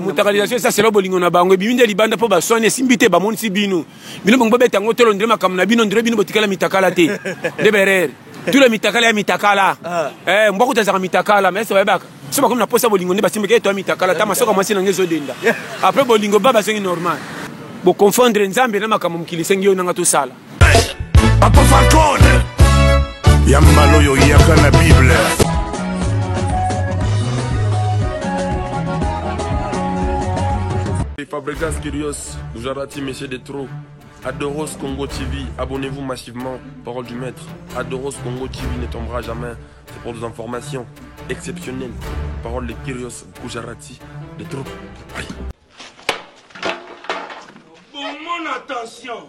mutakalisation eza selo bolingo na bango ebimi nde libanda mpo baswani esimbi te bamonisi bino bino bongo bobeta yango tolo ndire makambo na bino ndire bino botikala mitakala te nde berere tula mitakala ya mitakala ah. eh, mbwa kuta azaka mitakala mais ese bayebaka so bakomi na mposa bolingo nde basimbaki eto ya mitakala ta masoka mwasi nange ezodenda apres bolingo ba bazongi normal boconfondre nzambe na makambo mokili esengi yo nanga tosala Papa Falcone ya mbala oyo yaka na bible Fabregas Kirios, Gujarati, Monsieur de Trop, Adoros Congo TV, abonnez-vous massivement, parole du maître. Adoros Congo TV ne tombera jamais, c'est pour des informations exceptionnelles. Parole de Kirios Gujarati, de Trop. Bon, mon attention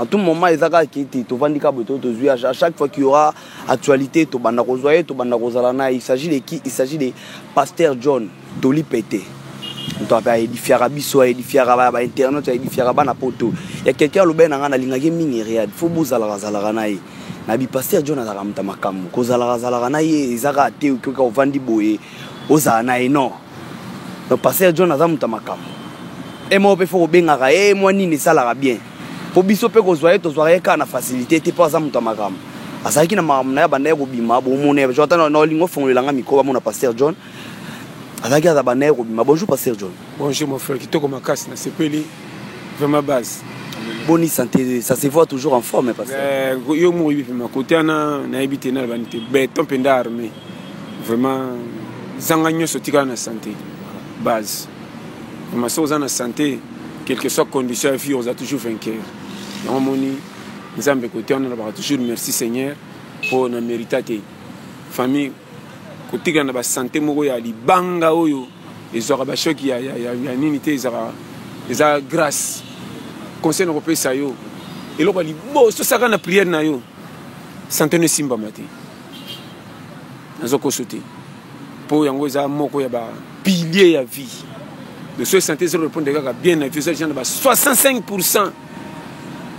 En tout moment eza kaka kiti tovandi kaka boye tozwi à chaque fois qu'il y aura actualité tobanda kozwa ye tobanda kozala na il s'agit de qui il s'agit de pasteur John toli pete moto ape aedifiaka biso aedifiaka ba internet aedifiaka bana poto ya quelqu'un alobaki na ngai nalingaki mingi read fo bozalaka zalaka na ye na bipasteur John azalaka moto ya makambo kozalaka zalaka na ye eza kaka te okioka ovandi boye ozala na ye non donc pasteur john aza moto ya makambo e moko mpe fo kobengaka ye mwa nini esalaka bien mpo biso mpe kozwa ye tozwaka ye kaka na facilité te mpo aza moto ya makambo azalaki na makambo na ye abandaki kobima bomona ye ata na olingi ofongolela nga mikro bamona pasteur john azalaki aza banda ye kobima bonjour pasteur john bonjour mon frère kitoko makasi nasepeli vraiment base boni santé ça se voit toujours en forme pasteur eh, yo moko oyebi mpe makoti wana nayebi te nalobani te beton mpe nda armé vraiment zanga nyonso tikala na sante base ma soki oza na sante quelque soit condition ya vie oza toujours vainqueur yango omoni nzambe kote wana nalobaka toujours merci seigneur mpo na mérita te famille kotikala na basante moko ya libanga oyo ezwaka bashoki ya, ya, ya, ya nini te ezaka eza grâce conseil na kopesa yo eloko ya liboso osaka na priere na yo sante no esimbama te nazo koso te mpo yango eza moko ya ba pilier ya vie le soki santé eza repondre kaka bien na vie eza deja na ba 65 pourcent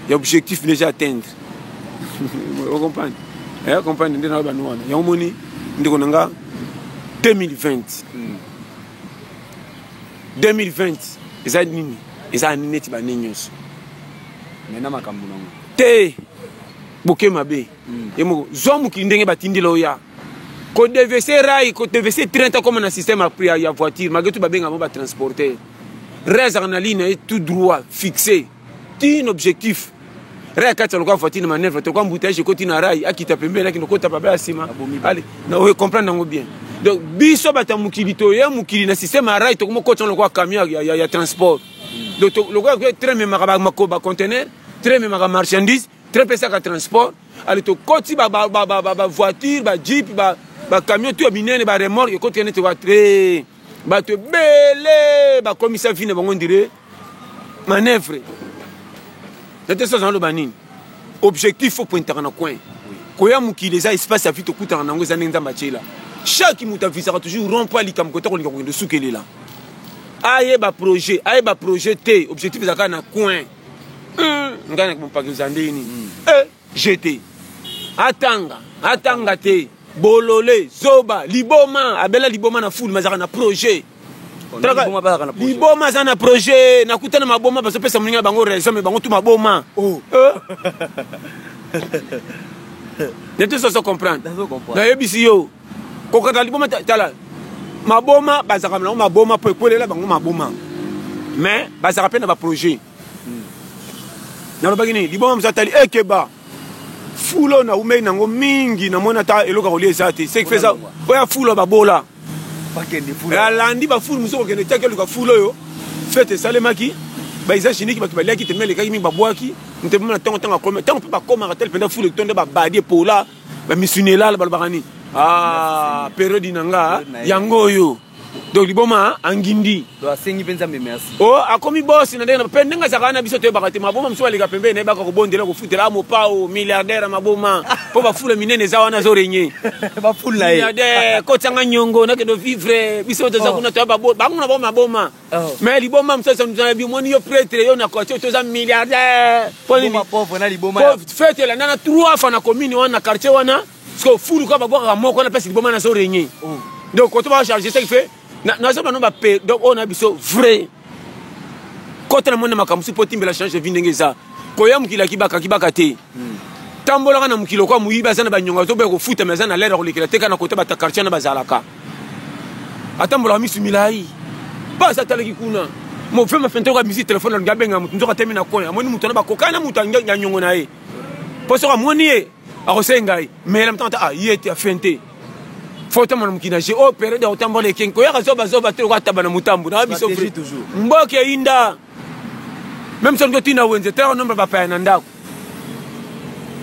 ya objectif deja atteindre ocomprendre eh, comprendre nde nayo bano wana yango moni ndeko na nga 2020 2020 eza nini eza nini neti bane nyonso mena makambo nango te boke mabe mm. ye moko zwa mokili ndenge batindela oya kodevese rai kodevese train ta koma na système ya, ya voiture malgré tout babenga bango batransporter rai azalaka na ligne na ye tout droit fixe ti na objectif rai akati aloka voiture na manœuvre tokoa mbutayage ekoti na rai akita pembeni akende kota baba ya nsima ale na oyo comprendre yango bien donc biso bato ya mokili toye mokili na système ya rai tokoma koti yango lokola camion ya, ya, ya transport mm. donc lokola train ememaka bacontenaire train ememaka marchandise très pesaka transport ale tokoti bavoiture bajeep bacamion to ya minene baremorke ekoti nete watu eh, bato ebele bakomisa vi na bango ndire manœuvre nate soza naloba nini objectif fo pointaka na coin koya mokili eza espace ya vi tokutana na yango eza ndenge nzambe atyela chaque moto avisaka toujours rond po alikambo kota kolinga kokende osukelela ayeba projet ayeba projet te objectif ezalaka na coin Hum, ngai nakopakiza ndeni. Mm. Eh, jete. Atanga, atanga te. Bolole, zoba, liboma, abela liboma na foule, mazaka na projet. liboma aza na projet nakutana maboma bazopesa moninga bango raison me bango tu maboma oh. eh? nete soso comprendre nayebisi yo kokata liboma tala maboma bazalaka nango maboma mpo ekwelela bango maboma mais bazalaka mpe na baprojet hmm. nalobaki nini liboma mosu atali ekeba fulo na umei nango mingi namoni ata eloko ya kolia eza te seki feza oyo ya fulo babola alandi bafulu mosusu kokende tiaki oluka fulo oyo fete esalemaki baeza chiniki bato baliaki tembe elekaki mingi babwaki ntembe na ntango ntango akomi ntango mpe bakomaka tele mpenza fulu etonde babadi epola ba misuni elala balobaka nini ah periode na nga yango oyo donc liboma angindi asengi mpe nzambe merci o oh, akomi bosi na ndenge mpe ndenge azalaka na biso toyebaka te maboma mosusu aleka pembeni nayebaka kobondela kofutela a ah, mopao milliardaire ya maboma mpo bafula minene eza wana azo renye bafula ye milliardaire kotianga nyongo nakende vivre biso toza oh. kuna toya bango na bango maboma Oh. mais liboma mosusu mzana bimoni yo pretre yo na quartier oyo toza milliardaire mpo nini fete elanda na trois fa na commune wana na quartier wana siko fulu kaka babwakaka moko wana mpesi liboma nazo renye oh. donc koto bacharge seki fe nazo bano bape donc oyo na biso vrai kota na moni na makambo si mpo timbela change vi ndenge eza koya mokili akibaka akibaka te hmm. tambolaka na mokili okwa moyibi aza na banyonga toboya kofutama aza na lere akolekela te kaka na kota bata quartier wana bazalaka atambolaka misu milai basi atalaki kuna mofe mafente oyo amisi telefone alingi abenga moto nzoka temi na kona amoni moto wana bakokani na moto ya nyongo na ye mpo soki amoni ye akosenga ye meyela motanga ta ah, ye te afente fotama na mokili na je o oh, periode ya kotambola ekengi koyaka zobazoba te lokola taba na motambo na biso mboka eyinda meme soki totinda wenze tala nombre ya bapaya na ndako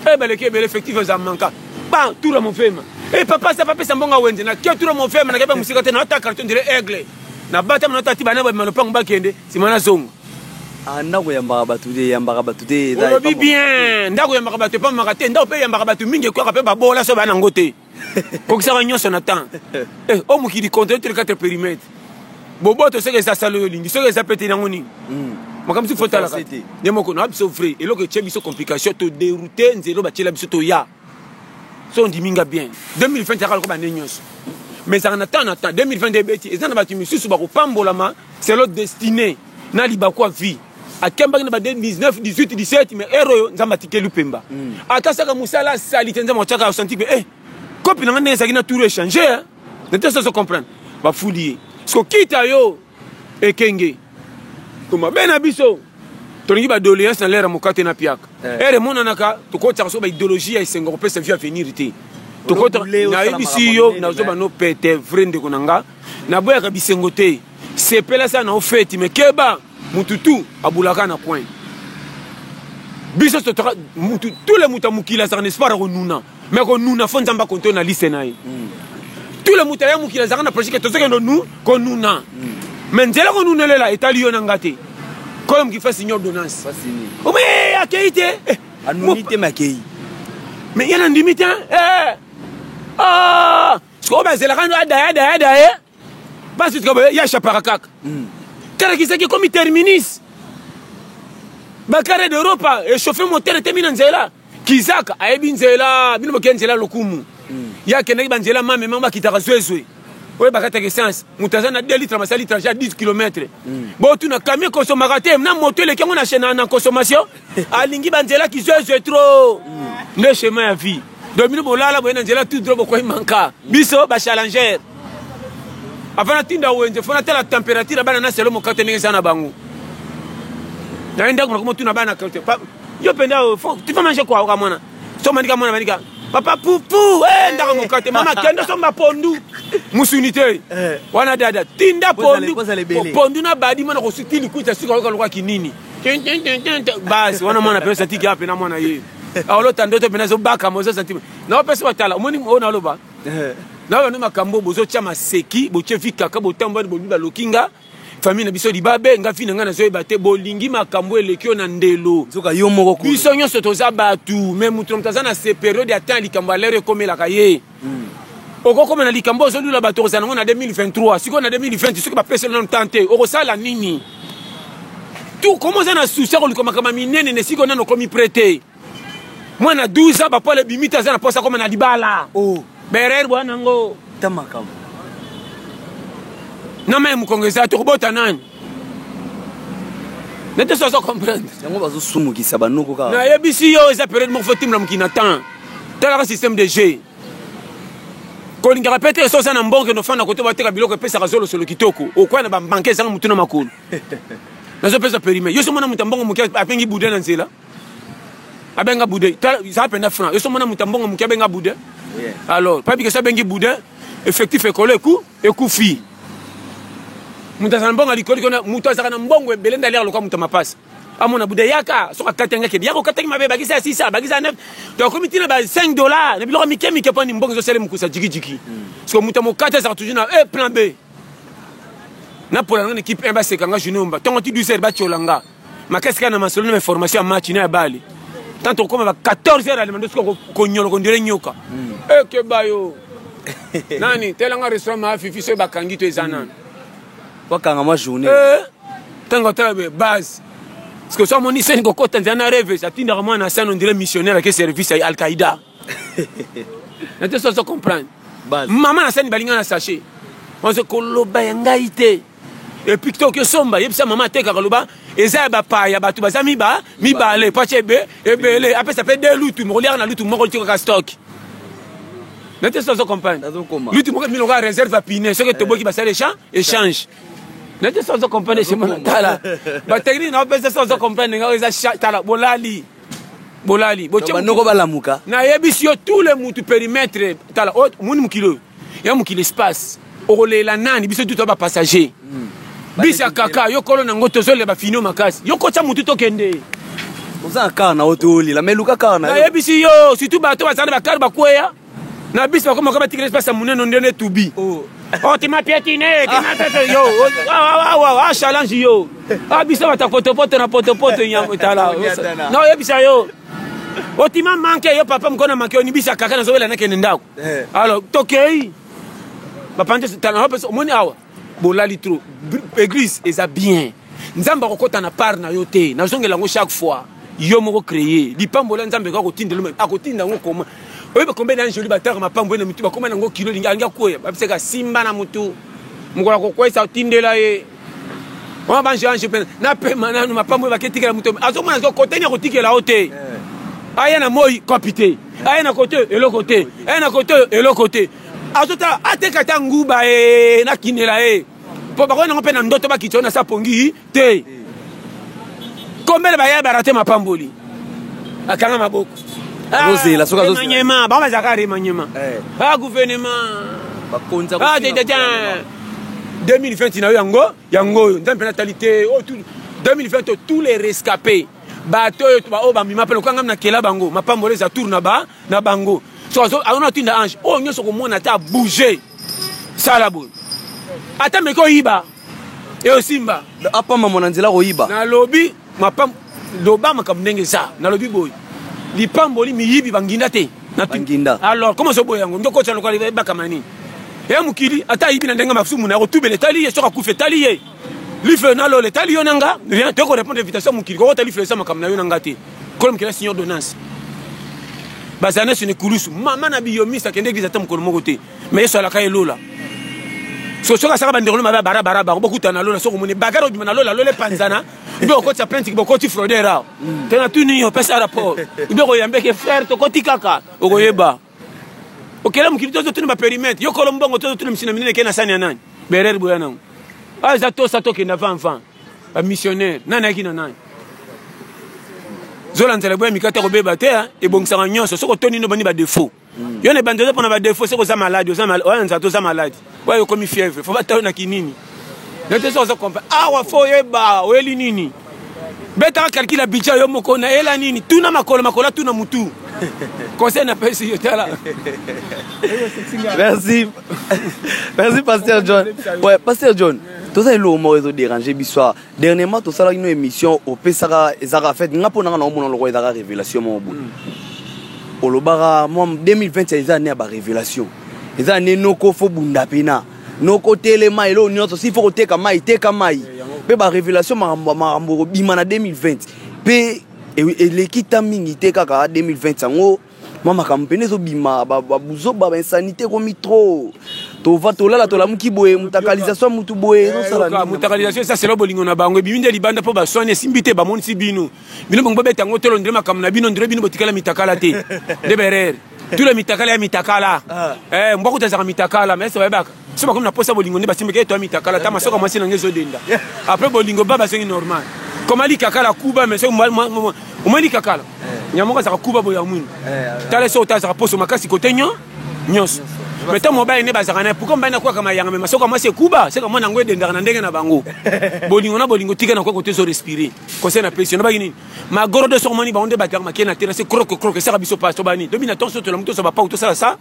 e eh, baleki ebele effectif eza manka ba tura mofema e eh, papa sa papesa mbongo ya wenze na ke tura mofema nakebe mosika te naata carton dire aigle na batama natati bana babima lopango bakende nsima nazonga ah, ndako eyambaka bato te eyambaka bato te olobi bien ndako eyambaka bato epamaka te ndako mpe eyambaka bato mingi ekwaka mpe babola so bana yango te kokisaka nyonso na temps eh, o mokili controle tous les quatre périmètres boboto soki eza sala oyo olingi soki eza pete nango nini hmm. makambo soki fotalaka nde moko na biso vrai eloko etye biso complication to deroute nzelo batyela biso toya so ondimi nga bien 2020 yaka lokoba nde nyonso mais ezalaka na temps na temps 2020 nde ebeti eza na bato misusu bakopambolama selo destiné na libaku ya vie akembaki na ba 19 18 17 mais heure oyo nzambe atikeli mpemba mm. ata saka mosala asali te nzambe atyaka asanti mpe eh, kopi na ngai ndenge ezalaki na tour échange nete soso comprendre bafuli ye siko kita yo ekenge to mabe na biso tolingi badoléance na lere ya mokate na piaka eh. ere emonanaka tokotaka so baidéologie ya esengo kopesa vie avenir te tokota nayebisi yo nazoba no pete vrai ndeko na nga naboyaka bisengo te sepela sa na ofeti mekeba mutu tu abulaka na coin biso totaka mutu tous les mutu ya mokili azalaka na espoir ya konuna mais konuna fo nzambe akontrole na liste na ye mm. tous les mutu aya mokili azalaka na projet ke tozokende nu konuna mm. mais nzela konunelela etali yo na nga te kolo moki fasi nyo ordonnance ome eh, akei te eh, anuni te makei mais ye nandimi te eh, ah, sikoyo bazelaka no adaya adaya adaya Basi tika boye ya chapaka kaka. Mm. Kara kisaki comme terminus. Ba carré d'Europe et chauffer moteur était mis dans zela. Kizaka ayebi nzela, bino bokia nzela lokumu. Mm. Ya kendaki ba nzela mame mama kitaka zwezwe. Oye bakataka essence, moto aza na 2 litres masali trajet ya 10 km. Mm. Bo tuna camion consommaka te, na moto eleki yango na chaîne na consommation. Alingi ba nzela kizwezwe trop. Mm. Nde chemin ya vie. donc bino bolala boye na nzela tout droit bokwei manka biso bachallenger avant natinda wenze fo natala température ya bana na selo mokate ndenge eza na bango naye ndako nakomotuna bana kate yo mpenza tifa mange kwaoka mwana so manika mwana manika papa pupu hey, eh, ndako mokate mama kende osomba pondu musuni te eh. wana dada tinda pondu pondu na badi mwana kosuti likuta sika oyoka lokola kinini basi wana mwana mpenza satiki ape na mwana ye eh, aolota ndoto mpena ezobakama oza sentime naopesa batala omoni oyo naloba eh. na bana makambo bozotya maseki botye vi kaka botambwani bolubi baloki nga famille na biso libabe nga fi na ngai nazoyeba te bolingi makambo eleki yo na ndelo nzoka yo moko biso nyonso toza bato me moto na moto aza na se periode ya temps likambo ya lere ekomelaka ye okokoma na likambo ozolula bato okozala nango na 2023 sikoyo na 2020 soki bapesi yo nano temps te okosala nini tu koma oza na susi ya koluka makambo minene ne sikoyo nano okomi pre te mwana 12 ans bapola ebimi te aza na posa akoma na libala oh. berere bwana yango na mai mokongo eza te okobota nani nete so azo comprendre yango bazosumukisa banoko kaka nayebisi yo eza periode moko fo timla mokili na temps talaka système de jeu kolingaka mpe te so oza na mbongo kende ofanda kote bateka biloko epesaka zolosolo kitoko okwaya na babanke ezanga motu na makolo nazopesa perime yo so mona moto ya mbongo moke apengi bude na nzela abenga bude zala mpenza franc yo so mona moto ya mbongo moke abenga bude alors pabikesa abengi bude effectif ekolo eku Ekufi. Moto azala mbongo likolo likolo moto azalaka na mbongo ebele nde aliaka lokola moto ya mapasa amona buda yaka soki akati yango akende yaka okataki mabe bakisa ya 600 bakisa ya 9 to akomi ntina ba 5 dollars na biloko mike mike mponi mbongo ezosala mokusa jikijiki siko moto ya mokati azalaka toujours na e plan b napola nga na ekipe 1 baseka nga journée omba ntongo ti 12 heures batyola nga makasi kaka na masolo na baformation ya match na ya bale tanto okoma ba 14 heures alima nde soki konyolo kondire nyoka hmm. ekeba eh, yo nani telanga restaurant ma fifi soki bakangi to eza hmm. nani bakanga mwa journée ntango eh, atala be base parce que so amoni seni kokota nzela na reve atindaka mwana asani ondire missionnaire ake service ya alqaida na te soso comprendre mama na sani balinga na sachet ozo koloba ya ngai te epuis to oki osomba yebisa mama atekaka loba eza ya bapaya bato baza miba mibale pace ebe ebele apesa mpe de lutu mokoliaka na lutu moko litikaka stock na te soso ozo comprendre lutu moko milonga reserve ya pine soki etoboki basala échange nete sozo comprendre chez mwana tala batechnique na opesa sozo comprendre nga eza tala bolali bolali banoko balamuka nayebisi yo tout le mutu perimetre tala oh, moni mokili oyo ya mokili espace okolela nani biso tuta bapassager hmm. bisi ya kaka yo kolo nango tozolela bafinio makasi yo kotya motu tokende oza na kar na yo tolela me luka kar na yo nayebisi yo surtout bato bazali bakar bakweya na biso bakoma kaba tikela pasa muneno nde ne tubi oh. oh ti mapiatine ti mapiatine yo oh, ah, ah, ah, ah challenge yo ah biso bata potopoto na potopoto nyamo tala na oyebisa yo otima manke yo papa mokona manke onibisa kaka nazobela nakende ndako eh. alors tokei bapanzi omoni awa bolali trop église eza bien nzambe akokota na part na yo te nazongela yango chaque fois yo moko créé lipambola nzambe kaka kotindela akotinda yango koma oyeba kombe na anjoli bataka mapambo na mitu bakoma nango kilo lingi angi akwea babisaka simba na motu mokolo akokwesa otindela ye wana banjo anjo mpe napema nanu mapambo ebaki etikela moto azomona zo koteni akotikela yo te eh. aya na moi kopi te aya na kote eloko te aya na kote eloko te azotala ateka ta nguba e eh, nakinela ye eh. mpo bakoya nango mpe na ndoto bakita yo na sa pongi te kombele baya barate mapamboli akanga maboko ah, ozela soki azozela bango bazalaka remaniema eh. a ah, gouvernement bakonza ah, 2020 na yo yango yango oyo nzambe mpe natali te 2020 oyo tous les rescapés bato oyo baoyo bamima mpe lokola ngami nakela bango mapamboli eza tour na bango so azona otinda ange oyo nyonso okomona ata bouge sala boye ata meke oyiba eosimba apamba mwana nzela akoyiba nalobi mapam loba makambo ndenge eza nalobi boye lipamboli miyibi banginda te banginda alors koma ozoboya yango ndokotya lokola ebakama nini eya mokili ata ayibi na ndenge masumu na yakotubela etali ye soki akufa etali ye lifelo na lola etali yo na nga toyeko répondre invitation mokili kokota lifelo eza makambo na yo na nga te kolo mokela signe ordonnance bazala nyonso na ekulusu mama na biyomisi akende eglise ata mokolo moko te ma yesu alaka ye lola so soki asaka bandeko no mabe ya barabara bango bokutana na lola soki omoni bagara obima na lola lola epanzana ibe okotisa plainte bokoti frauder awa tena tuni yo pesa rapport ibe okoyambeke frère tokoti kaka okoyeba okela mokili tozo tuna baperimetre yokolo mbongo tozo tuna misina minene ke na sani ya nani berere boya nango aza ah, tosa tokenda vanvan bamissionnaire nani ayaki na nani zola nzela boya mikate kobeba te ah, ebongisaka nyonso soki otoni nobani badefaut hmm. yo na ebandi oza mpona badefaut soki oza maladi oza nzala toza maladi Oyo okomi fièvre, faut batalo na kinini. Nete so ozo comprendre. Awa ah, faut yeba, oyeli nini? Beta calcul ya budget yo moko na ela nini? Tuna makolo makolo tuna mutu. Conseil na pesi yo tala. Merci. Merci Pasteur John. Ouais, Pasteur John. Toza eloko moko ezo déranger biso Dernièrement tosalaki no emission opesaka ezaka fait nga mpo nanga naomona lokola ezaka révélation moko boye mm. olobaka mwa 2020 eza ane ya barévélation eza ane noko fo bunda mpena noko telema eloo nyonso si fo koteka mai teka mai eh, mpe barévélation makambo makambo ekobima na 2020 mpe e, eleki ta mingi te kaka 2020 yango mwa makambo mpena ezobima babuzoba bainsanite ekomi trop tova tolala tolamuki boye mutakalisation mutu boye eh, ezosalamutakalisation eza selo bolingo na bango ebimi nde libanda mpo baswani esimbi te bamonisi bino bino bongo bobeta yango tolo ndire makambo na bino ndire bino botikala mitakala te nde berere tula mitakala ya mitakala ah. eh, mbwa kuta ezaka mitakala mese bayebaka so bakomi na posa bolingo nde basimbaki eto ya mitakala ata masoka mwasi na ngai ezodenda apres bolingo ba bazongi normal koma likakala kuba mais omoi likakala eh. nyamoko azaka kuba boya mwini eh, eh. tala so ota azaka poso makasi kote nyo nyonso me ntango mobali nde bazalaka naye pourkoi mobali nakwaka mayanga me masoka mwasi ekuba seka mwana yango edendaka na ndenge na bango bolingo na bolingo tika na kwako te ezo respire conseil na pesi nabaki nini magoro de soko moni bango nde batalaka makei na tena se croke croke esaka biso paso bani dobi na tonso tolamu tosa bapau tosala sa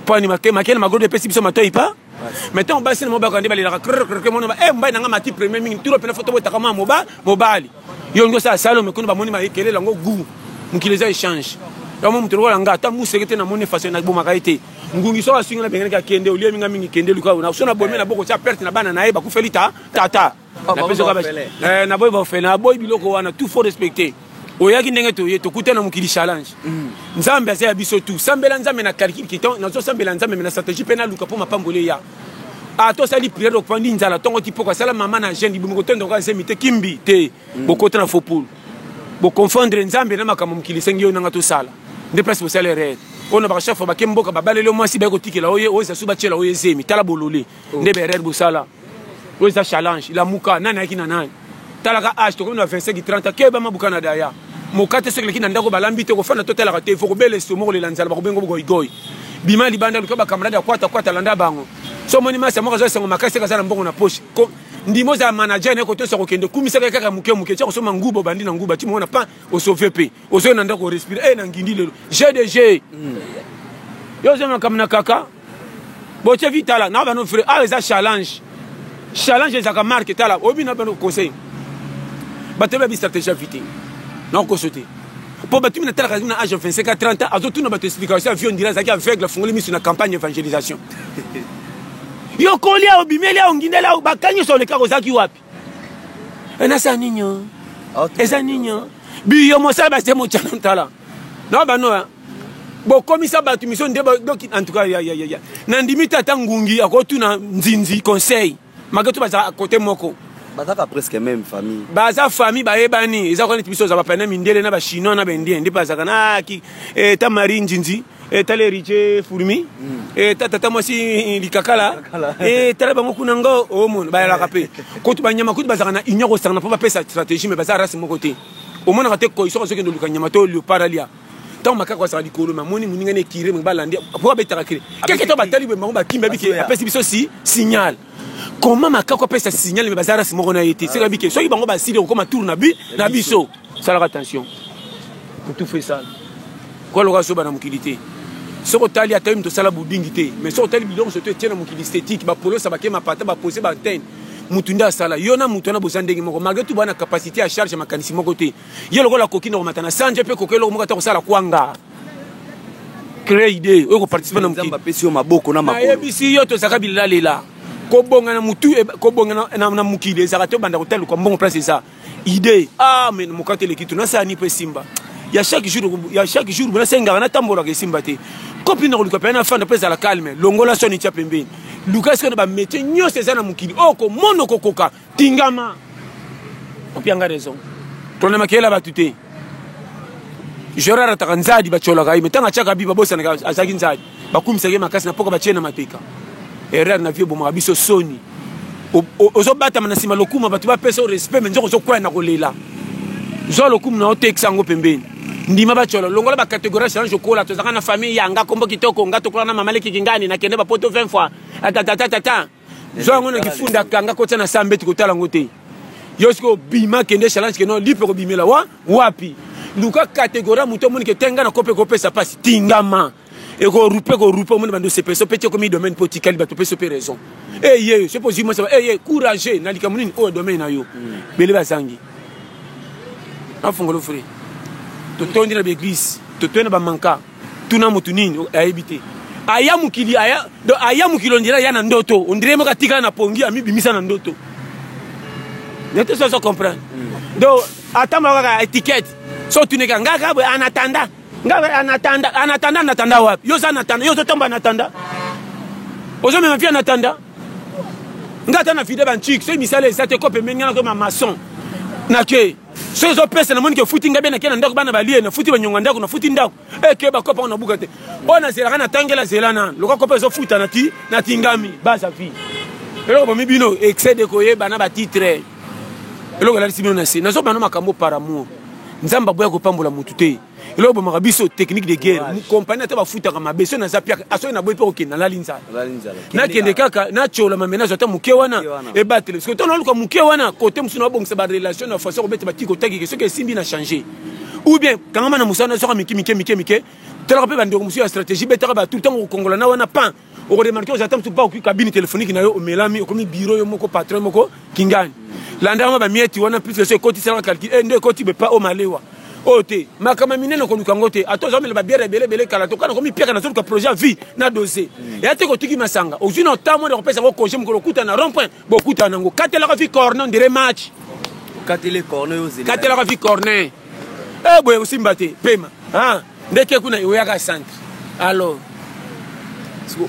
poni makele magodi epesi biso matoi pa mais ntango basi na mobaka nde balelaka krkrke mona e mobali na ngai mati premier mingi turo mpena foto botaka mwa moba mobali yo olingi osala salome kuna bamoni maekele yango gu mokili eza echange yango moto lokola nga ata museke te namoni faso nabomaka ye te ngungi soko asungi na bengenaki akende olie minga mingi kende luka ona so na bomi na boko tya perte na bana na ye bakufeli ta tata eh, naboyi baofele naboyi biloko wana tout faut respecter oyaki ndenge toye tokutana mokili challenge mm. nzambe aza ya biso tu sambela nzambe na calcul kitan nazosambela nzambe me na stratégie mpe naluka mpo mapamboli eya a ah, tosali priere opandi nzala ntongo kipoko asala mama na jeune libumu kotondoka zemi te kimbi te mm. bokota na fopulu boconfondre nzambe na makambo mokili esengi yo nanga tosala nde place bosala erreur oyo na bakashafo bake mboka babaleli yo mwasi baye kotikela oye oyo ezasu batyela oyo ezemi tala bolole nde berere bosala oyo eza challenge lamuka nani ayaki na nani talaka age tokomi na 25 30 ke oyebama buka na daya moka te soki eleki na ndako balambi te kofanda totalaka te fo kobela estomo kolela nzala bakobengo bogoigoi bima libanda luka bakamarade ya kwata kwata landa bango so omoni masi moko aza esengo makasi kaza na mbongo na poshe ndima ozala manager naye kotosa kokende kumisaka ye kaka moke moke tia kosomba nguba obandi na nguba ti moko na pan osove mpe ozoi na ndako orespire e eh, na ngindi lelo gdg hmm. yo ozoi makambo na kaka botie vi tala na bano vrai awa eza challenge challenge ezalaka marke tala oyebi na bano conseil bato yebi bistratégie ya vi te nakokoso te mpo bato mina talaka na age ya 25 a 30 ans azotuna bato explication ya vie ondira azalaki aveugle afungoli miso na campagne evangelisation yo kolia obimeli ao ngindeli ao bakangi nyonso olekaka ozalaki wapi enasa nini eza nini biyo mosala base mocana ntala na banoya bokomisa bato miso nde doki en tout cas ya, ya, ya, ya. nandimi te ata ngungi akotuna nzinzi conseil mage to bazala kote moko bazaka presque même famille baza famille bayebani eza kaka neti biso oza bapana mindele na bachinois na baindien nde bazalaka na ah, ki eta eh, marie nzinzi etala eh, heritier fourmi hmm. eh, ta tata mwasi eh, likakala etala bango kuna ngo omona oh, bayalaka mpe kutu banyama kutu bazalaka na union kosangana mpo bapesa stratégie me baza race moko te omonaka te koiso azokende oluka nyama to leopard alia ntango makaka bazalaka likolo mamoni moninga na ekire balandi mpo abetaka kire keke to batali bango bakimbi abiki apesi biso si signal comment makako apesa signal me baza race moko na ye te soki abike soki bango basili kokoma tour na bi na biso salaka attention kotufa esala kwa loka soba na mokili te soki otali ata yo moto osala budingi te mais soki otali biloko soto etie na mokili esthétique bapolosa bake mapata bapose baantene motu nde asala yo na motu wana boza ndenge moko malgre tout baa na capacité ya charge ya makanisi moko te yo lokola koki na komata na sanje mpe koki eloko moko ata kosala kwanga cree idee oyo koparticipe na mokili apesi yo maboko na makolo nayebisi yo tozalaka bilalela kobonga na mutu eh, kobonga na, na, na mokili ezalaka te obanda kotaluka mbongo place eza idee ah mais mokate eleki to nasani mpe esimba ya chaque jour ya chaque jour nasengaka natambolaka esimba te kopi na koluka mpe nafanda mpe ezala calme longola soni tya pembeni luka sikoyo na bametie nyonso eza na mokili oyo oh, komona okokoka tingama opianga raison tolanda makele ya bato te jora arataka nzadi batyolaka ye me ntango atyaka bi babosanaka azalaki nzadi bakumisaka ye makasi na mpoka batye na mapeka erreur na vie ebomaka biso soni ozobatama na nsima lokuma bato bapesa o respect me nzoka ozokwaya na kolela zwa lokumu na otekisa yango pembeni ndima bacolo longola bacategorie ya change okola tozalaka na famille yanga kombo kitoko nga tokola na mama leki kingani nakende bapoto 20 fois atatatatata zwa yango na kifunda kanga kotya na saa mbeti kotala yango te yo soki obima kende challenge keno lipe kobimela wa wapi luka kategori ya moto omoni ke te ngai na kope kopesa mpasi tingama ekorupe korupe omoni bando sepeso mpe tie komi domaine mpo otikali bato mpe so mpe raison eye eh, soki ozwi mwasi eye eh, courage na likambo nini oyo domaine na yo hmm. bele bazangi afongolo fre totondi na baeglise totondi na bamanka tuna mutu nini ayebi te aya mokili aya donc aya mokili ondire aya na ndoto ondire moko atikala na pongi amibimisa na ndoto nete soso comprendre mm. donc atambala kaka etiquette so otuneka ngai kaka boye anatanda ngai anatanda anatanda anatanda wapi yo oza anatanda yo ozotomba anatanda ozomema mpi anatanda ngai ata na fide banchik soki misala eza te ko pembeni ngai nakoyema mason nake soki ezopesa na monike efuti ngai be nake na ndako bana balie nafuti banyonga ndako nafuti ndako eke eh, bakopa ngo nabuka te oyo nazelaka natangela zela na loka kopa ezofuta natingami baza vie eloko bomi bino excès de koyeba na batitre eloko elalisi bino na se nazobana makambo par amour nzambe aboya kopambola motu te eloko bomaka biso technique de guerre compagnie ata bafutaka mabe so naza piaka asoki naboyi mpe kokende nalali nzala nakende kaka natyola mamenage ata moke wana ebatele soki ntango naluka moke wana kote mosusu nabongisa barelation na façon kobeta batiki otakike soki esimbi na change ou bien kangama na mosala nazoka mike mike mike mike talaka mpe bandeko mosusu ya stratégie betaka batu ntango kokongola na wana pan okoremarke oza ata mosusu mpa okoki kabine telefoniki na yo omelami okomi biro yo moko patron moko kingani landa yango bamieti wana plus eso ekotisalaka calcul e eh, nde ekoti bepa o malewa oyo oh, te makama minene okoluka yango te ata oza omela babiere ebele ebele kala tokana komipiaka na zoluka projet ya vie na dose mm. eya te kotuki masanga ozwi na ntango mwana kopesa yango congé mokolo okuta na rond point bokutana nango katelaka vi corne ndire match katelaka vi corne e eh, boye kosimba te pema ah. ndeke kuna eoyaka centre alors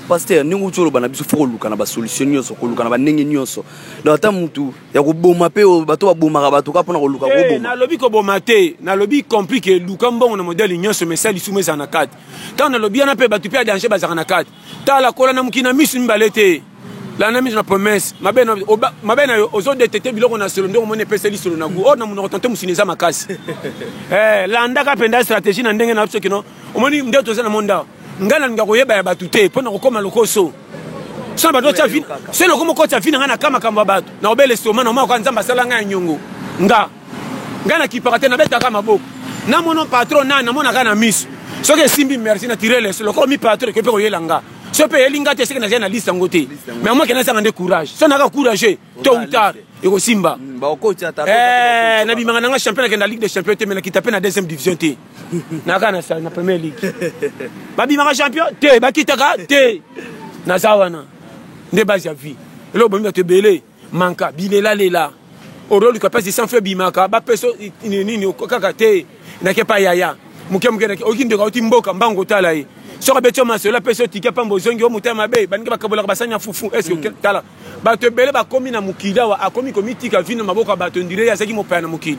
paster ndenge outi oloba na biso fo koluka na basolution nyonso koluka na bandenge nyonso donc ata motu ya koboma mpe bato babomaka bato kaka mpona koluka eh, koboma nalobi koboma te nalobi compris ke luka mbongo na modele nyonso mesa lisumu ezala na kati ntango nalobi wana mpe bato mpe ya danger bazalaka na kati tala kola na mokili na misu mibale te landa misu na promesse mabe na oba- mabe na yo ozodetete biloko na solo nde omoni epesa lisolo na gu oyo na monoko tonte mosuni eza makasi Eh, landaka mpenza stratégie na ndenge na biso kino omoni nde toza na monde awa ngai nalinga koyeba ya bato te mpo na kokoma lokoso so na bato otya vi- so lokomo kotya vi na ngai na ka makambo ya bato na obele soma na omaka nzambe asala ngai ya nyongo nga ngai nakipaka te nabetaka maboko namono patron nani namonaka na miso soki esimbi merci na tire leso lokola mi patron ekoki mpe koyela nga so mpe eyeli nga te soki nazali na liste yango te mais omoi kena esanga nde courage so naka courage to ou tard ekosimba hmm, eh, nabimaka nanga champion nakenda ligue de champion te me nakita mpe na deuxième division te naka na première ligue babimaka champion te bakitaka te naza wana nde base ya vie eloko bomi bato ebele manka bilela lela oroluka place de sang feu bimaka bapesa nini kaka te nake pa yaya moke moke nake oki ndeko auti mboka mbango otala ye soki abeti yo masolo apesi yo tike mpamba ozongi yo motema mabe baningi bakabolaka basani ya fufu eske hmm. tala bato ebele bakomi na mokili awa akomi komitika vino maboko ya bato ndire ye azalaki mopaya na mokili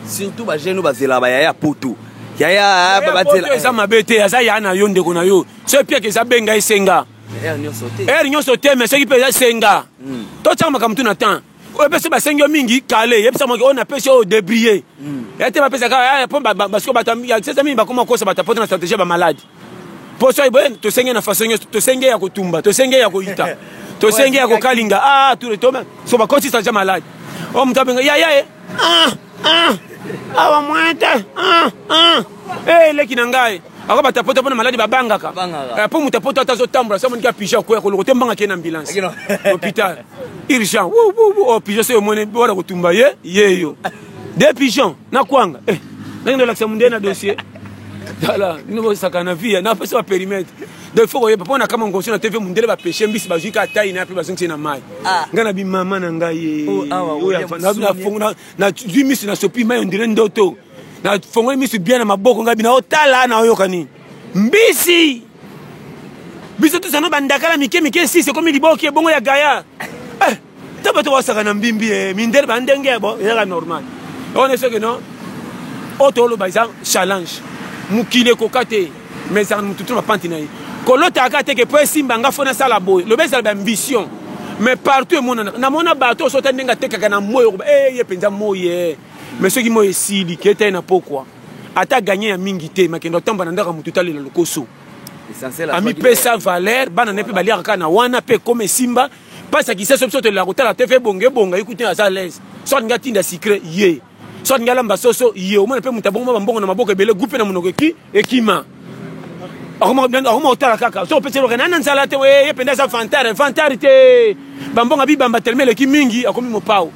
surtout bajeune oyo bazelaka bayaya ya poto yaya eza mabe te aza yaya na yo ndeko na yo so epiaka eza benga esenga heure nyonso te mais soki mpenza senga hmm. totyaka makambo tu na temps oyo mpe soki basengi yo mingi kale yebisa moki oyo napesi oyo debrie hmm. ya te bapesa kaka eh, mpo basiko bato ya sesa mingi bakoma kosa bato apota na stratégie ya bamaladi mpo soki boye tosenge na façon nyonso tosenge ya kotumba tosenge ya koyita tosenge ya kokalinga a ah, turetome so bakoti stratégie ya maladi oyo oh, moto abenga yaya ye ah, ah, awa mwete eleki na ngai ako bato ya poto mpona maladi babangaka eh, mpo moto ya poto ata azotambola sa moniki ya pigeon akoya koloko te mbanga kee na ambulance hôpital urgent o oh, pigeon soki omoni wana kotumba ye yeyo de pigeon na kwanga eh, ndenge ndolakisa mondele na dossier tala bino bosaka na vie na pesa ba perimetre donc faut koyeba mpo na kama ngonso na tv mondele bapeshe mbisi bazwi ka tai na yape bazongisi na mai ah. ngai na bimama na ngai oh, nazwi mbisi nasopi mai ondire ndoto na fongoli misu bien na maboko ngai bina otala na oyoka nini mbisi biso tosano bandakala mike mike sisi ekomi liboki ebongo ya gaya eh, ta bato basaka na mbimbi e mindele bandenge yabo ezaka normal one soki no oyo toloba eza challenge mokili ekoka te mais ezaka motu to bapanti na ye kolotaka teke mpo esimba nga fo nasala boye loba ezala baambition mais partout emonana namona bato osota ndenge atekaka na moyi okoba eye eh, mpenza moyi mais soki moi esili keta ye na pokwa ata aganye ya mingi te makendo atamba na ndako ya moto etalela lokoso amipesa valeur bana ne mpe baliaka kaka na wana mpe ekoma esimba mpasi akiseso biso tolela kotala te fe ebonga ebonga ye kutu aza alaise so alingi atinda sikre ye so alingi alamba soso ye omona mpe moto abongoma bambongo na maboko ebele gupe na monoko eki ekima akoma kotala kaka so opesi eloka nana nzala te ye mpenza aza vantare vantare te bambongo abibamba telema eleki mingi akomi mopao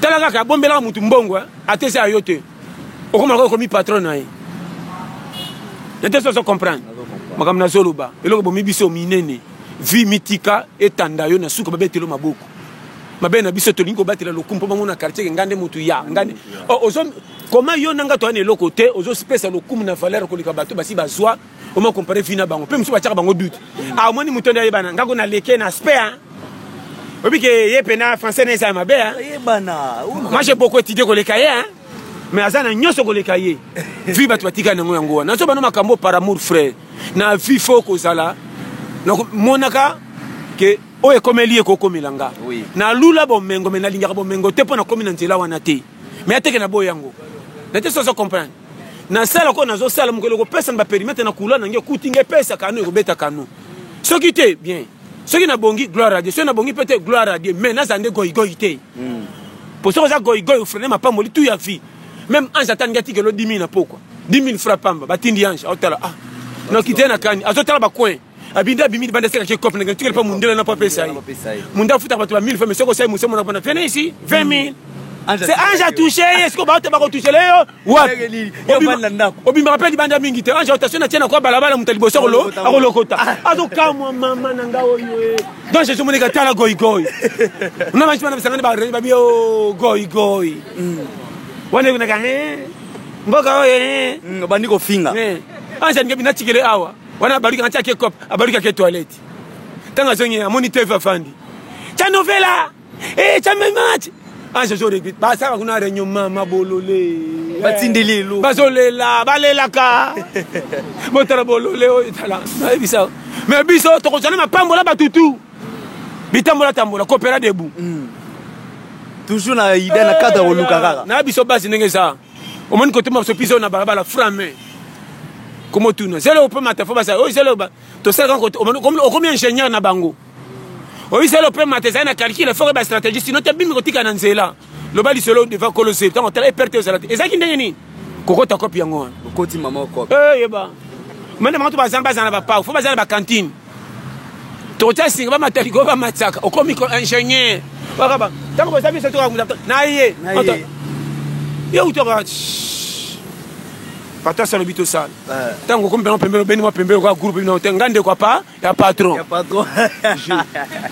tala kaka abombelaka mutu mbongo eh? atesa ya yo te okoma lokola okomi patron na ye nete soso comprendre makambo nazoloba eloko bomi biso minene vi mitika etanda yo na suka babetelo maboko mabe na biso tolingi kobatela lokumu mpo bango na quartier ke ngande motu ya ngande oh, koma yo na nga toyana eloko te ozopesa lokumu na valeur koleka bato basi bazwa oma compare vie na bango mpe mosusu batiaka bango doute amoni ah, moto nde ayebana ngako na leke na aspect hein oyebi ke ye mpena français na eza ya mabe moi j'ai beaucoup étudié koleka ye hein mais aza na nyonso koleka ye vie bato batika nango yango wana nazo bana makambo par amour frère na vie fo kozala namonaka ke oyo ekomeli ye kokomela nga nalula bomengo me nalingaka bomengo te mpo nakomi na nzela wana te me ateke na boye yango nate soso comprendre nasala ko nazosala mokolo ekopesa na baperimetre na kula na nge okuti nge epesa kano ekobeta kano soki te bien soki nabongi gloire adie soki nabongi mpe te gloire adie mais nazala nde goigoi te hmm. po soki oza goigoi ofrene mapamboli tu ya vie même ange atangi atikelo 10 000 na pokwa 10 000 fra pamba batindi ange aotala ah noki te na kani azotala bacoin abindi abimi libanda aseka ke cop ndenge tikele mpa mundele na mpo apesa ye munde afutaka bato ba 1000 femme soko osali mosemo na mpona fene esi 20 000 se ange atouche ye siko baote bakotouchele yo wapi obimaka mpe libanda mingi te ange otation natie nakwa balabala moto ya liboso akolokota ah. azokamwa mama na nga oyo donc jesu monika tala goigoi na banci bana bisangani bareni babi o goigoi wana ekonaka mboka oyo obandi kofinga ange alingi binatikele awa wana abaluki anti ake cop abaluki ake toilette ntango azongi amoni teve afandi tya novela e tya memach ange jo regrete basaka kuna reunion mama bolole batindeli elo bazolela balelaka botala bolole oyo etala nayebisa me biso tokozwa na mapambola batutu bitambola tambola kopera debu mm. toujours na ida na cadre koluka kaka na biso basi ndenge eza omoni kote mabiso mpiza oyo na balabala frame komotuna zelo ope mata fo basala oyo zelo tosalaka okomi ingénieur na bango oyo zelo ope mata ezali na calcule foko ba stratégie sino te bimi kotika na nzela loba lisolo devant kolo zelo ntango tala eperte ozala te ezalaki ndenge nini kokota kopi yango wana okoti mama okopi eh, yeba mende bango to bazana bazala na bapau fo bazala na bakantine tokotia singa bamata likolo bamataka okomi ko ingénieur bakaba ntango boza biso tokakuta na ye ye utaka bato asala obi tosala ntango okomi mpenza pembeni obeni mwa pembeni okoya groupe bino te ngai ndeko apa ya patron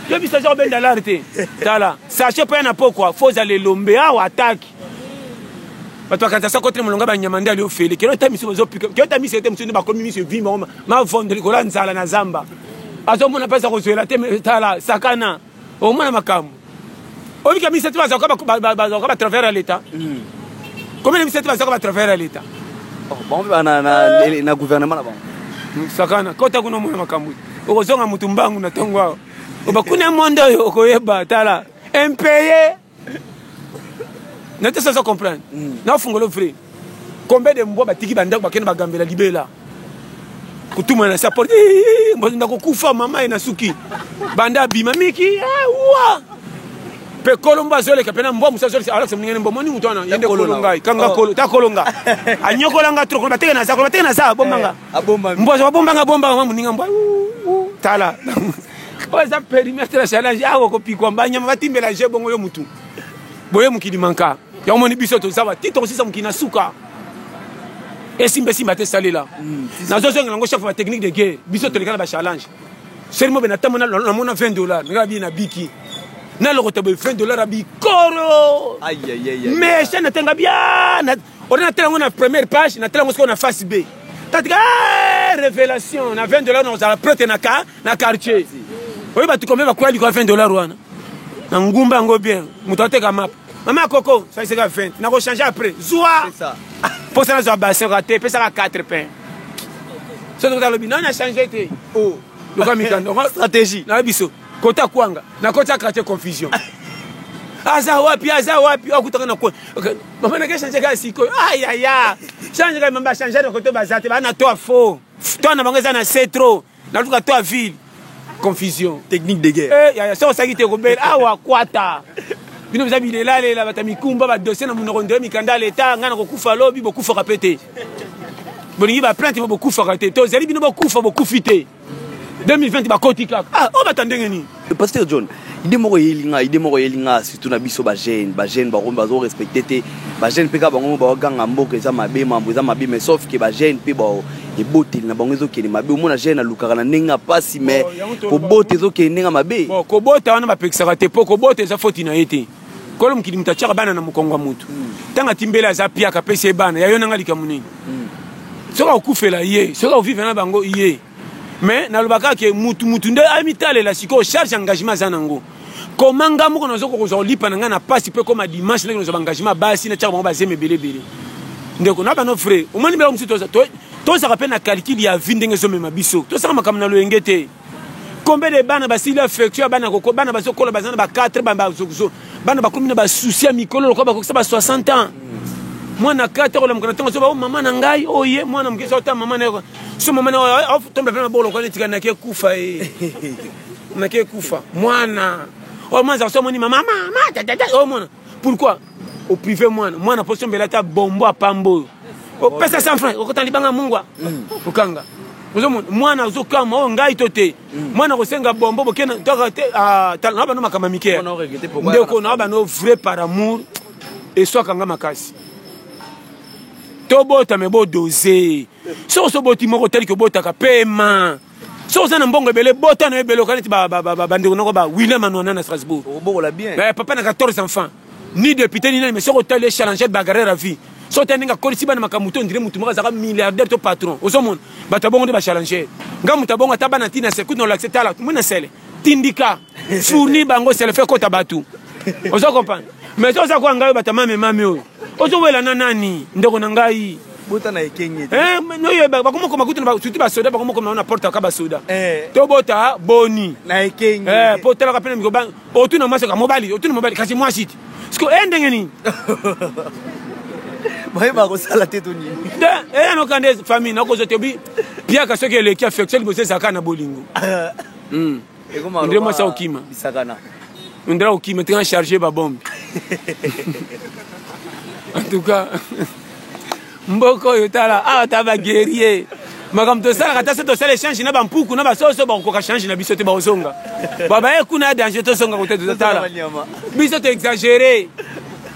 yo biso aza kobenda lare te tala sache mpo ya na pokwa fo ozala elombe awa ataki bato bakanisa sa kote molonga banyama nde ali ofele kelo ta miso bazopika kelo ta miso ete mosusu nde bakomi miso evimba mavondo likolo ya nzala na zamba azomona mpe aza kozwela te tala sakana omona makambo obika misati bazalaka batravers ya leta hmm. komina misati bazalaka batravers ya leta oh, bango mpe na gouvernement na bango hmm, sakana kota kuna omona makambo okozonga motu mbangu na ntongo awa obakuna mondo oyo okoyeba tala impeye na te saza comprendre mm. na fungolo vrai combien de mbwa batiki bandako bakende bagambela libela kotuma na sa porte na kokufa mama ye na suki banda abima miki eh, wa mpe kolo mbo azoleka mpe na mbwa mosu azoleka alakisa moninga ne mbo moni moto wana yende kolo ngai kanga oh. kolo ta kolo nga anyokola nga trop kolo bateke na za kolo bateke na za abomba nga eh, mbwa azwa babomba nga bomba nga moninga mbwa tala oyo eza perimetre ya challenge awa okopikwa mbanyama batimbela je bongo yo mutu boye mokili manka yango omoni biso toza bati tokosisa mokili na suka esimba esimba te esalela mm, nazozongela yango chef batechnique de guerre biso toleka na bachallenge seli mobe natambo namona 20 dollar ngaa bie na biki nalokota boye 20 dollar abikoro mesha natenga bia ode natela yango na première page natela yango sikoyo na face b tatika eh, révélation na 20 dollar nakozala prete na ka na quartier oyo bato kombe bakwea likolo 20 dollar wana na ngumba yango bien moto ateka mapa mama ya koko saliseka 20 nakochange après zwa mposa nazwa basin kaka te pesaka 4 pain so tokota lobi nani achange te oh. loka mikando stratégie na biso kota kwanga nakoti ya quartier confusion aza wapi aza wapi akutaka na kwe mama nake change kaka sikoyo ayaya change kaka mamba change na koto baza te bana to fo to na bango eza na se trop naluka to ya ville confusion technique de guerre eh, yaya soki osalaki te kobela awa kwata bino boza bilelalela bato ya mikumba badosie na monoko ndoye mikanda ya leta ngai nakokufa lobi bokufaka mpe te bolingi baplainte mo bokufaka te tozali bino bokufa bokufi te 2020 bakoti kaka ah, oyo oh, bata ndenge nini pasteur john ide moko eyeli ngai ide moko eyeli ngai surtout na biso bajeune bajeune bango bazo respecte te bajeune mpe kaka bango baoganga mboka eza mabe mambo eza mabe mais sauf ke bajeune mpe bao eboteli na bango ezokende mabe omona jeune alukaka na ndenge ya mpasi mais oh, kobota ezokende ndenge ya mabe kobota wana bapekisaka te mpo kobota eza foti na ye te kolo mokili moto atyaka bana na mokongo ya motu ntango hmm. atimbeli aza piaka apesi ye bana yayo nanga likambo nini hmm. soki akokufela ye soki akovivre na bango ye mais nalobaka ke mutu mutu nde amitalela sikoyo charge engagement aza nango koma ngai moko nazoka kozwa kolipa na ngai na mpasi mpe koma dimanche ndenge nazwa baengagement basi natyaka bango bazema ebele ebele ndeko na bano vrai omoni biloko mosusu tozalaka mpe na calcule ya vie ndenge ezomema biso tosaka makambo na loyenge te combien de bana basili affection ya bana koko bana bazokola baza na ba 4 bazokuzo bana bakomi na basusi ya mikolo lokola bakokisa ba 60 ans mwana 4 olamuka na ntango azoba o oh, mama na ngai oye oh, mwana moke ezota mama na so mama na otomba mpe maboko lokola etika nake kufa e nake kufa mwana oyo mwana azalaka so amoni mama mama tatata oyo mwana pourquoi oprive mwana mwana mpo sombela ata bombo apamba oyo opesa 100 franc okotana libanga mungwa mm. okanga ozomona mwana azokama oyo oh, ngai to te mm. mwana akosenga bombo bokena toka te ah, tala na bano makambo mike ndeko na bano vrai par amour eswaka nga makasi tobota me bodose soki oso boti moko tali kobotaka pema soki oza na mbongo ebele bota na yo ebele okaneti bandeko noko ba william anuana na strasbourg eh, papa na 14 enfants ni député ni nani mais soki otali echalangel bagarre ya vie so te ndenge akolisi bana makambo to ondire motu moko azalaka milliardaire to patron ozomona bato ya bongo nde bachalangere nga moto ya bongo ata bana ntina sele kutu na olakise tala mona sele tindika fourni bango selefe kota bato ozo comprendre mais oza koya ngai bato mame mame oyo ozowela na nani ndeko na ngai bota na ekenge eh, noyo bakomokoma kutu surtout basoda bakomokoma na porte aka basoda eh. tobota boni na ekenge eh, po otalaka mpe na mikoba otuna mwasi oka mobali otuna mobali kasi mwasi ti siko e ndenge nini bayeba kosala te to nini eyanoka nde famille nakozwa te obi piaka soki eleki affection liboso ezalaka na bolingo hmm. nde mwasi akokima nde akokima tika charge babombe en tout cas mboka oyo tala awa ah, ta ba guerrier makambo tosalaka ata so tosala echange na bampuku na basoso bakokoka change na biso te bakozonga babaye kuna ya danger tozonga kote totala biso toexagere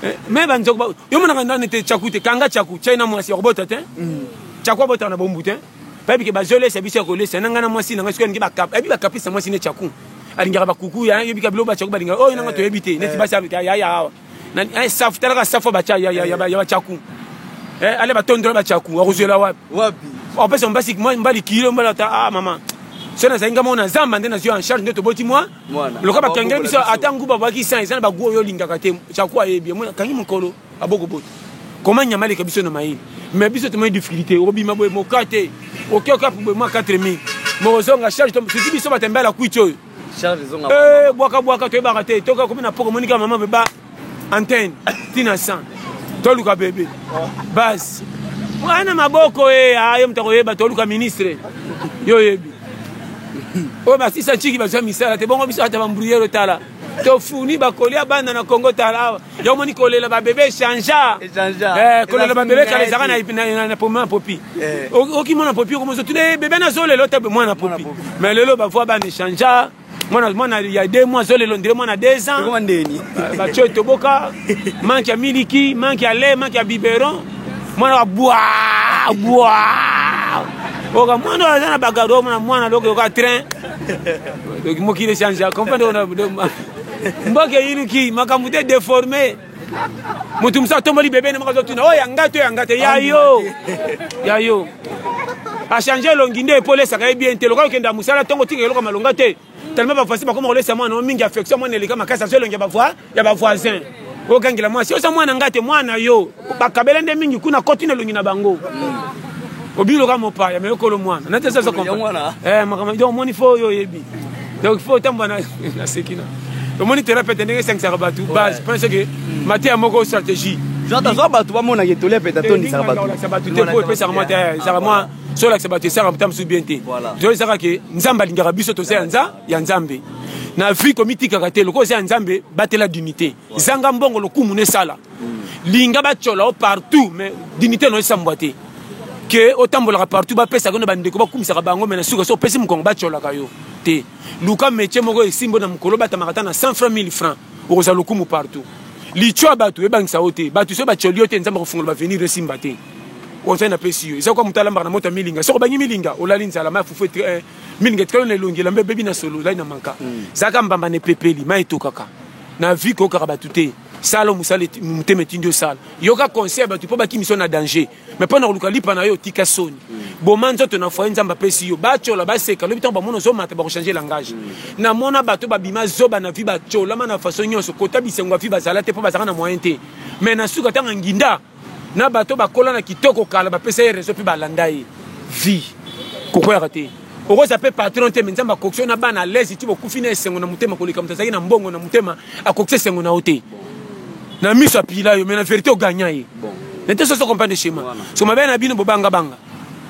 eh, me banzoko yo monaka ndani te chaku te kanga chaku chai na mwasi yakobota te mm. chaku abotaka na bombu te bayebi ke bazolesa biso ya kolesa na ngai na mwasi na ngai soki alingi bayebi bakapisa mwasi ne chaku alingaka bakuku yebika biloko bachaku balingaka oyo nanga eh, toyebi te neti eh. basi yaya awa eh, safu talaka safu ya bacha ya ya ya ya bachaku eh ale batondola bachaku akozela wapi wapi opesa mbasi moi mbali kilo mbala ta ah mama so nazali nga mona zamba nde nazwi en charge nde toboti mwa loka bakangela biso ata nguba bwaki san eza na bagu oyo olingaka te chaku ayebi kangi mokolo abokobota koma nyama aleka biso na mayini mais biso tomoni difficulté obima boye moka te okeokapu boye mwa 4000 mokozonga charge soki biso batembela kuiti oyo Eh, bwaka bwaka toyebaka te toki akomi na poko monika mama beba antenne tina san toluka bebe base mwana maboko e eh, ayo ah, moto akoyeba toluka ministre yo oyebi oyo basisa nciki bazwa misala te bongo biso ata bambruyere tala tofuni bakoli abanda na kongo tala awa yo omoni kolela babebe echangea eh, kolela babebe kala ezaka na pomema popi eh. okimona popi okomoso tuna eh, bebe nazo lelo te mwana popi mais lelo bavoi bana echangea mwana mwana ya de mwa zo lelo ndele mwana deux ans batio etoboka manke ya miliki manke ya lait manke ya biberon mwana wa bwa bwa oka mwana oyo aza na bagado mwana mwana lokoyoka train mokili echange comprendre mboka eyinuki makambo te deforme moto mosusu atomboli bebe na moko azotuna oyo yanga to yanga te ya yo ya yo achange elongi nde epo olesaka ye bien te lokola okenda mosala ntongo otika eloko malonga te tellement bavoisin bakoma kolesa mwana o mingi affection mwana eleka makasi azo elongi ya bavoisin ogangela mwasi oza mwana ngai te mwana yo bakabela nde mingi kuna koti na elongi na bango mm. obiloka mopaya me okolo mwana nati eza eh, makambo donc omoni fo oyo oyebi donc fo otambwa na seki na omoni terapeute ndenge esangisaka bato base mpona soki mateya moko stratégie tozwa bato bamonaka etoli ya peta tondisaka batolakisa bato te po epesaka mwa te ezaka mwa solakisa bato esaka mota mosusu bien te toyesaka ke nzambe alingaka biso toza ya nza ya nzambe na vie komitikaka te lokola oza ya nzambe batela dignité zanga mbongo lokumu na esala mm. linga batyola o partout mais dignité na esambwa te ke otambolaka partout bapesaka yo na bandeko bakumisaka bango me na suka so opesi mokongo batyolaka yo te luka métier moko esimbo na mokolo batamaka ata na 100 franc 1000 franc okozala lokumu partout litio ya bato ebangisa yo te bato so batyoli yo te nzambe akofungola bavenir esimba te oza napesi yo eza kwa moto alambaka na moto ya milinga soko obangi milinga olali nzala ma fufu mini ngetika yo na elongi elamba ebebi na solo lai na manka mm. zaka mbamba na epepeli mai etokaka na vie koyokaka bato te sala mosala motema etindi osala yoka conseil ya bato mpo bakimiso na danger mai mpo na koluka lipa na yo otika soni mm. boma nzoto na foye nzambe apesi yo batyola baseka lobi ntango bamona ozomata bakochange langage mm. namona bato babima zoba na vi batyolama na faso nyonso kota bisengo ya vi bazala te mpo bazalaka na moyen te mai na suka ntango nginda na bato bakola na kitoko kala bapesa ye reseau mpe balanda ye vie kokweyaka te okoza mpe patron te me nzambe akokisi na bana alaise ti bokufi na esengo na motema koleka moto azalaki na mbongo na motema akokisi esengo na yo te na miso apila yo me na verité ogagna ye nete soso comprendre schéma so mabe na bino bobangabanga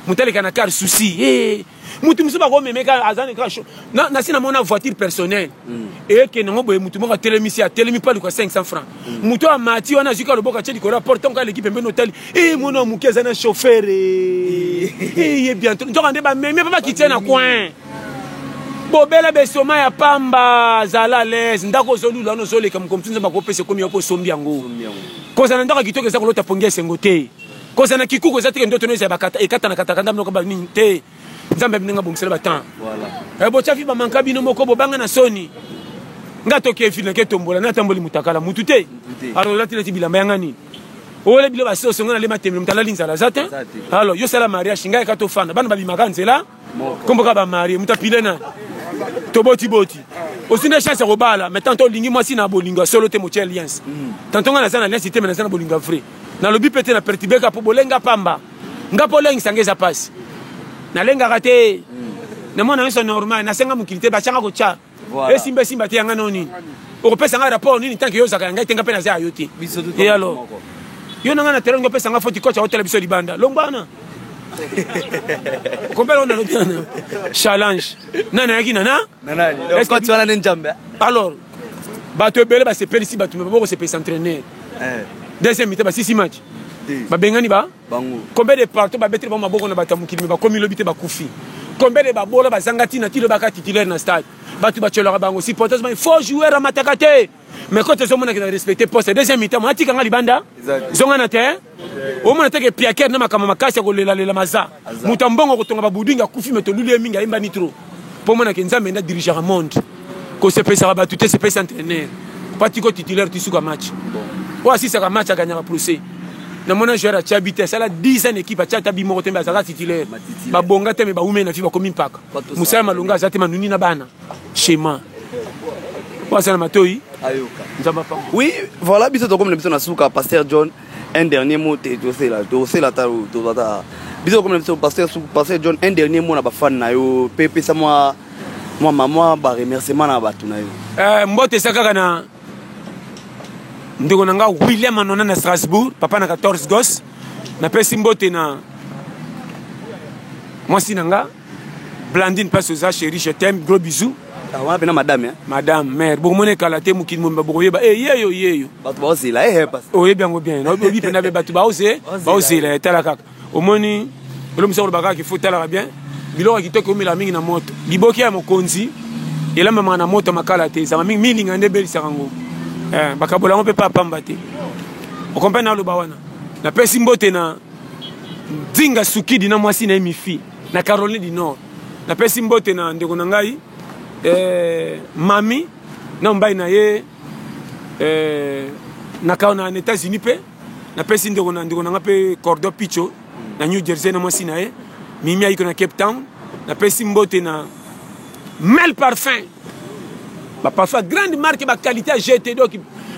motaleka na kar souci mutu mosusu bakomemeka aza kaka sho nasi namona voiture personnel mm. ekende yango boye mutu moko atelemisi atelemi mpe aluka 500 franc mutu mm. amati wana azwiki aloboko atye likolo ya porte ntango aleki pembeni otali e eh, mwana moke aza na chauffeur eye eh. eh, bientôt nzoka nde bamemi mpe bakitie na coin bobela besoma ya pamba zala alaise ndako ozolula wana ozoleka mokomotu nzambe akopesa ekomi yoko osombi yango kozala ndako kitoko eza kolota pongi ya esengo te Kozala na kikuku eza te ke ndoto no ezala bakata ekatana kataka ndambe noko ba nini te nzambe abini nga bongisela ba temps voilà eh, botya fi bamanka bino moko bobanga na soni nga toke fi nake tombola natamboli mutakala mutu te alors olati neti bilamba yanga nini oole bilo basoso nga nalema temelo mutu alali nzala aza te alors yo sala mariage ngai ka tofanda bana babimaka nzela kombo kaka bamarie moto apile nani tobotiboti osi nde chance ya kobala mais tanto olingi mwasi na bolingo ya solo te motya alliance mm. tanto ngai naza na alliance te me naza na bolingo ya vrai nalobi mpe te na pertibeka mpo bolenga pamba nga mpo olengisa nga eza mpasi nalengaka te mm. na mwana nyonso normal nasenga mokili te batyanga kotya voilà. esimba esimba te yanga nao nini okopesa ngai rapport nini tanke yo ozaka ya ngai te nga mpe naza ya yo te ye alo yo na ngai na telongi opesa ngai foti kocha otala biso libanda longwana kompela ona lobi wana challenge nani ayaki nana wana nde njambe alors bato ebele basepelisi bato me babokosepelisa entraîneur eh. deuxième mita basisi match babengani ba bango. Combien de partout ba beteli bango maboko na bato ya mokili me bakomi lobi te bakufi. Combien de babola bazanga tina ti lobi aka titulaire na stade. Bato batyolaka bango supporters bango faux joueur amataka te. Mais quand tozomona kina respecter poste deuxième mi-temps mona tika nga libanda zonga na terrain omona te ke piaker na makambo makasi ya kolela lela maza moto ya mbongo kotonga babudinga akufi me toluli ye mingi ayembani trop mpo mona ke nzambe nde adirigeaka monde kosepesaka bato te sepesa entraîneur patiko titulaire tisuka match oyo asisaka match aganyaka procès namona joueur atya bi te asala 10 ans équipe atya ata bi moko te mbe azalaka titulaire babonga te me bawumeli na fi bakomi mpaka mosala malonga aza te manuni na bana chema oyo asala matoi oui voilà biso tokomi na biso na suka pasteur john un dernier mot te tosela tosela ta tozwa ta biso comme biso pasteur pasteur John un dernier mot na ba fan na yo pe pesa moi moi maman ba remerciement na batu na yo euh mbote sa kaka na ndeko na nga William Anona na Strasbourg papa na 14 gos napesi mbote na mwasi na nga Blandine pasi oza chérie je t'aime gros bisous. Ah, wana pena madame hein? madame mère bokomona ekala te mokili momba bokoyeba e eh, yeyo yeyo bato baozela eh, eh, oyebi yango bien oyebi mpena mpe bato baoze baozela etala kaka omoni elomisa koloba kaka kifo talaka bien biloko ya kitoko eumela mingi na moto liboki ya mokonzi elambamaka na moto makala te ezalaka mingi milinga nde ebelisaka yango bakabola yango mpe pa pamba te okomprene naloba wana napesi mbote na Dinga Sukidi na mwasi na ye Mifi na Caroline du Nord. Napesi mbote na ndeko na ngai eh, mami na mobali na ye eh, na, na États-Unis mpe napesi ndeko na ndeko na ngai mpe Cordo Picho na New Jersey na mwasi na ye Mimi ayiko na Cape Town napesi mbote na mel parfum ba parfum grande marque ba qualité ya gt donc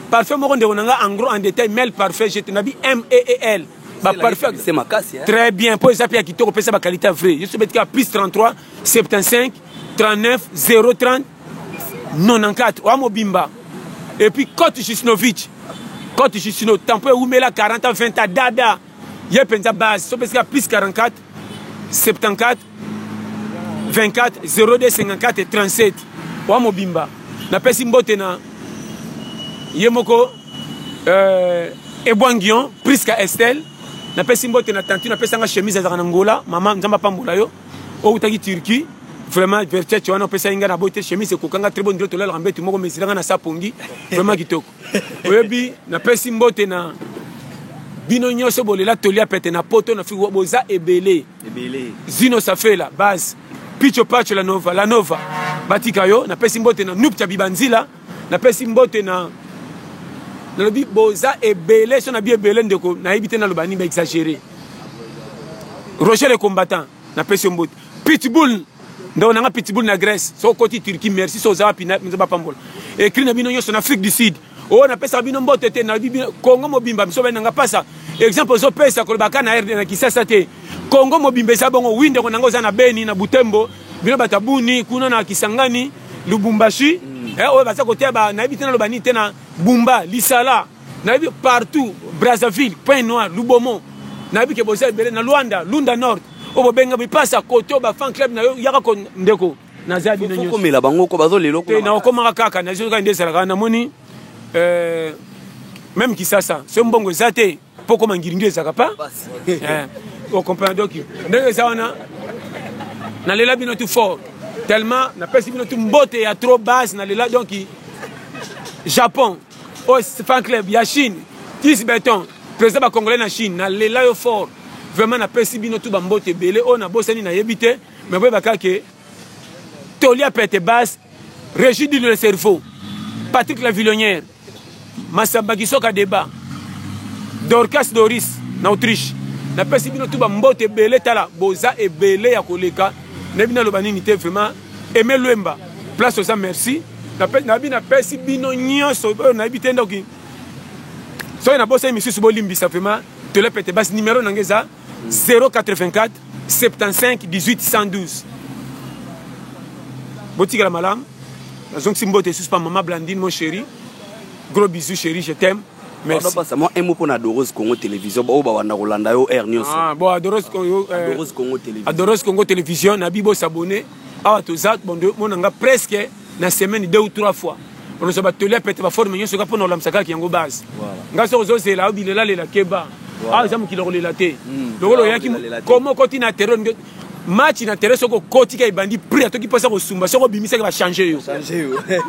parfum moko ndeko na nga en gros en détail mel parfum gt na bi m e e l ba parfum très bien mpo eza mpe ya kitoko pesa ba qualité vrai yo soki betika plus 33 75 39 030 94 oya mobimba et puis cote jusnovich cote justino tempo ewumela 40 20 dada ye penza base so pesika plus 44 74 24 02 54 37 wa mobimba napesi mbote na ye moko euh, ebwangion priska estelle napesi mbote na tantu napesanga chemise azalaka na ngola mama nzambe apambola yo outaki turquie vraiment vertete wana opesaki ngai na boyi te chemise ekokanga très bonne tolalaka mbetu moko mesiranga na sapongi vraiment kitoko oyebi napesi mbote na bino nyonso bolela toli ya pete na poto na fiko boza ebele zino safela base picho pacho la nova la nova batika yo napesi mbote na nupcha bibanzila napesi mbote na nalobi boza ebele so na bi ebele ndeko nayebi te naloba nini baexagere roger le combattant napesi yo mbote pitbull ndeko na nga pitbull na grèce so okoti turquie merci so oza wapi nzambe apambola ekri na bino nyonso na afrique du sud oyo oh, napesaka bino mbote te na kongo mobimba biso bani nanga pasa exemple ozopesa kolobaka na rd na kisasa te kongo mobimba eza bongo wi ndeko nanga oza na beni na butembo bino bato ya buni kuna na kisangani lubumbashi mm. eh, oyo baza koteya nayebi te naloba nini te na bumba lisala nayebi partout brazzaville point noir lubomo nayebi ke boza ebele na luanda lunda nord oyo bobenga bipasa koto bafan club na yo yaka ko ndeko naza bino nyokomela bango ko bazo lelo te naokomaka kaka nazokaka nde ezalaka namoni euh, meme kisasa so mbongo eza te mpo okoma ngiringi ezalaka pa okomprena eh, donc ndenge eza wana nalela bino tout fort tellement napesi bino tout mbote ya trop base nalela donc japon Oyo oh, fan club ya Chine, 10 beton, président ba congolais na Chine, na lela yo fort. Vraiment na pesi bino tout ba mbote ebele oyo oh, na bosani na yebi te, mais boye baka ke toli ya pete basse, Régis du le cerveau, Patrick la Villonnière, Massamba Kisoka débat, Dorcas Doris na Autriche. Na pesi bino tout ba mbote ebele tala, boza ebele ya koleka. Nebi na loba nini te vraiment Aime Luemba, place oza merci. Nabi napesi bino nyonso oyo nayebi te ndoki. Soki nabosani misusu bolimbisa vraiment tolepete basi numero na ngai eza 084 75 18 112 botikela malamu nazongisi mbote esusu pa mama blandine mon chéri gros bisous chéri je t'aime Merci. Pardon, pasa, mwa un mot pona Adoros Congo Television, baoyo bawanda kolanda yo heure nyonso. Ah, bon, Adoros, Congo, yo, eh, Adoros Congo Television. Adoros Congo Television, na bibo s'abonner. Awa toza bon de mona nga presque na semaine deux ou trois fois. On se bat tele pete ba forme nyonso ka pona olamsa kaka yango base. Voilà. Nga so zo zela obilela lela keba. Voilà. Ah, zamu kilokolela te. Mm. Lokolo yaki Kilokolela te. komo koti na terrain match na terrain soki okoti ka ebandi prix atoki mposa kosumba soki obimisaki bachange yo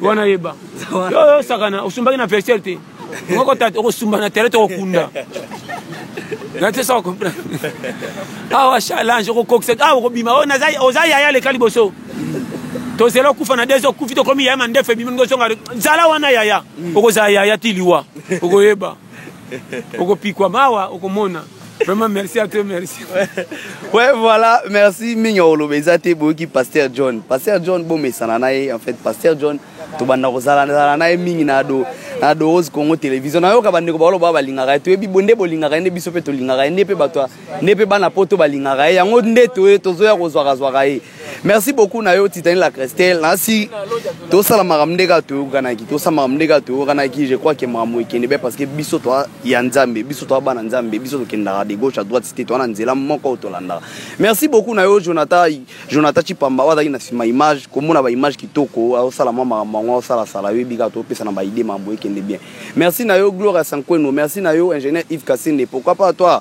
wana yeba yo osakana osumbaki na vestiaire te okosumba na terrain tokokunda nate soko comprendre awa challenge okokokisa awa okobima oh, oza yaya leka liboso tozela okufa na des okufi tokomi yaya mandefu ebimi ningo ozonga zala wana yaya mm. okozala yaya ti liwa okoyeba okopikwa mawa okomona vraiment merci à toi merci ouais voilà merci mingi oloba eza te boyoki pasteur john pasteur john bomesana na ye en fait pasteur john tobanda kozalanzala na ye mingi na do na dorose congo télévision nayoka bandeko baloba balingaka ye toyebi bonde bolingaka ye nde biso mpe tolingaka ye nde mpe bato nde mpe bana poto balingaka ye yango nde toye tozoya kozwakazwaka ye merci beaucoup na yo titani la crestel nasi tosala makambo nde kaka toyokanaki tosala makambo nde kaka toyokanaki je crois ke makambo ekende be parce que biso toa ya nzambe biso toa bana nzambe biso tokendaka de gauche à droite site toa na nzela moko oyo tolandaka merci beaucoup na yo jonathan jonathan chipamba oyo azalaki na nsima image komona baimage kitoko aosala mwa makambo yango aosalasala oyebi kaka topesa na baide makambo ekende bien merci na yo gloria sanqueno merci na yo ingénieur yves kasende pourquoi pas toi